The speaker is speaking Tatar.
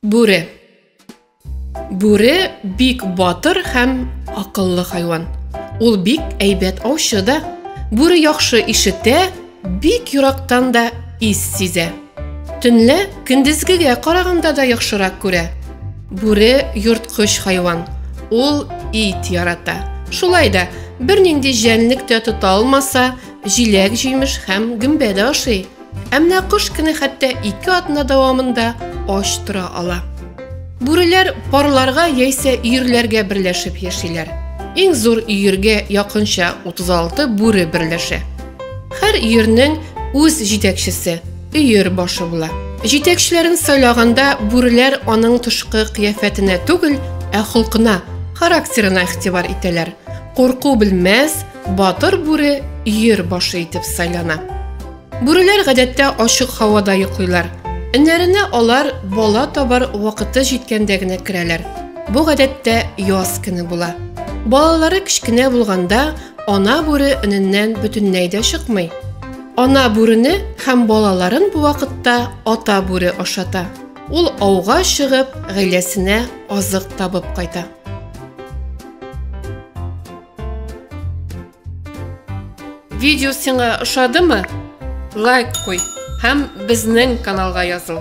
Бүре. Бүре бик батыр һәм акыллы хайван. Ул бик әйбәт аучы да. Бүре яхшы ишетә, Бик ерактан да ис сизә. Төнлә көндезгегә караганда да яхшырак күрә. Бүре йорткыч хайван. Ул ит ярата. Шулай да бернинди җәнлек тә тота алмаса, җиләк-җимеш һәм гөмбә дә ашый. Ә менә кош кенә хәтта ике атна дәвамында ач тора ала. Бүреләр парларга яисә өерләргә берләшеп яшиләр. Иң зур өергә якынча 36 бүре берләшә. Һәр өернең үз җитәкчесе, өер башы була. Җитәкчеләрен сайлаганда бүреләр аның тышкы кыяфәтенә түгел, ә холкына, характерына игътибар итәләр. Курку белмәс, батыр бүре өер башы итеп сайлана. Бүреләр гадәттә ачык һавада йоклыйлар. Эннәренә алар бала табар вакыты җиткәндә генә керәләр. Бу гадәттә яз көне була. Балалары кечкенә булганда Ана бүре өненнән бөтенләй дә чыкмый. Ана бүрене һәм балаларын бу вакытта ата бүре ашата. Ул ауга чыгып, гаиләсенә азык табып кайта. Видео сиңа ошадымы? Лайк куй һәм безнең каналга языл.